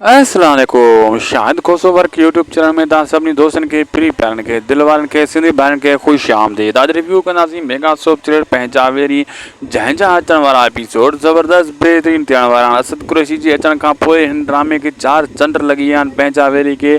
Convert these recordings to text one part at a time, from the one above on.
السلام عليڪم Shahid Khoso work YouTube channel ۾ توهان سڀني دوستن کي پھرين پيارن کي دل وارن کي سنڌي ڀائرن کي خوش آمديد اڄ ريويو ڪنداسين ميگا سوپ چريڊ پنهنجا ويري جنهن جا اچڻ وارا ايپيسوڊ زبردست بهترين ٿيڻ وارا آهن اسد قريشي جي اچڻ کان پوء هن ڊرامي کي چار چنڊ لڳي ويا آهن پنهنجا ويري کي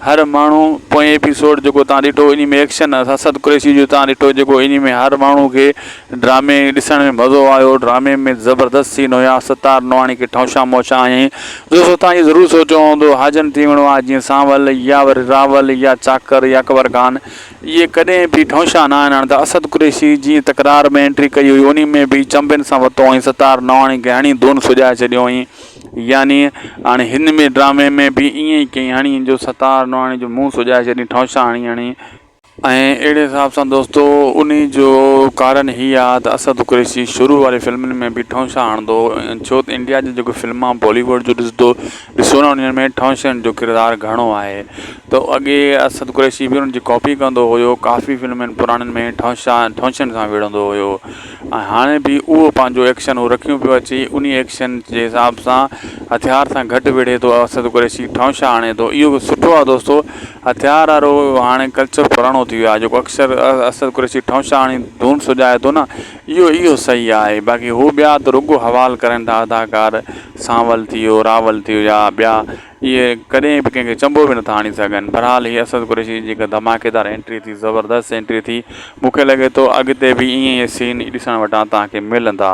هر ماڻهو پوئين ايپيسوڊ جيڪو توهان ڏٺو انهي ۾ ايڪشن اسد قريشي جو توهان ڏٺو جيڪو انهي ۾ هر ماڻهو کي ڊرامي ڏسڻ ۾ مزو آيو. ڊرامي ۾ زبردست سين هيا. ستار نوحاڻي کي ٺونشان مونشان هيائين. دوستو توهان جي ضرور سوچيو هوندو حاجن ٿي ويڻو آهي جيئن سانول يا وري راول يا چاڪر يا اڪبر خان اهي ڪڏهن به ٺونشان نه آهن هاڻي ته اسد قريشي جيئن تڪرار ۾ انٽري ڪئي هئي انهي ۾ به چنبن سان وتو هئين ستار نوحاڻي کي هڻي ڌون سجائي ڇڏيو هئين يعني هاڻي هن ۾ ڊرامي ۾ به ائين ئي ڪئين هڻي جو ستار نوحاڻي جو منهن سجائي ڇڏيائين ٺونشان هڻي هڻي ۽ اهڙي حساب سان دوستو انهي جو ڪارڻ هي آ ته اسد قريشي شروع واري فلمن ۾ به ٺونشا هڻندو هو ڇو ته انڊيا جون جيڪو فلمان بالي ووڊ جون ڏسدو ڏسو نه انهن ۾ ٺونشن جو ڪردار گهڻو آهي ته اڳي اسد قريشي به انهن جي ڪاپي ڪندو هيو ڪافي فلمن پراڻين ۾ ٺونشا ٺونشن سان وڙهندو هيو ۽ هاڻي به اهو پنهنجو ايڪشن هو رکيون پيو اچي انهي ايڪشن جي حساب سان هٿيار سان گهٽ وڙهي ٿو اسد قريشي ٺونشا هڻي ٿو اهو سٺو آ دوستو هٿيار وارو هاڻي ڪلچر پراڻو ٿي ويو آهي جيڪو اڪثر اسد قريشي ٺونشا هڻي ڌون سجائي ٿو نه اهو اهو صحيح آهي باقي هو ٻيا ته رڳو حوال ڪرين ٿا اداڪار سانول ٿي ويو راول ٿي ويا ٻيا اهي ڪڏهن به ڪنهن کي چنبو به نٿا هڻي سگهن بهرحال هي اسد قريشي جي جيڪا ڌماڪيدار انٽري ٿي زبردست انٽري ٿي مون کي لڳي ٿو اڳتي به ائين ائين سين ڏسڻ وٽان توهان کي ملندا.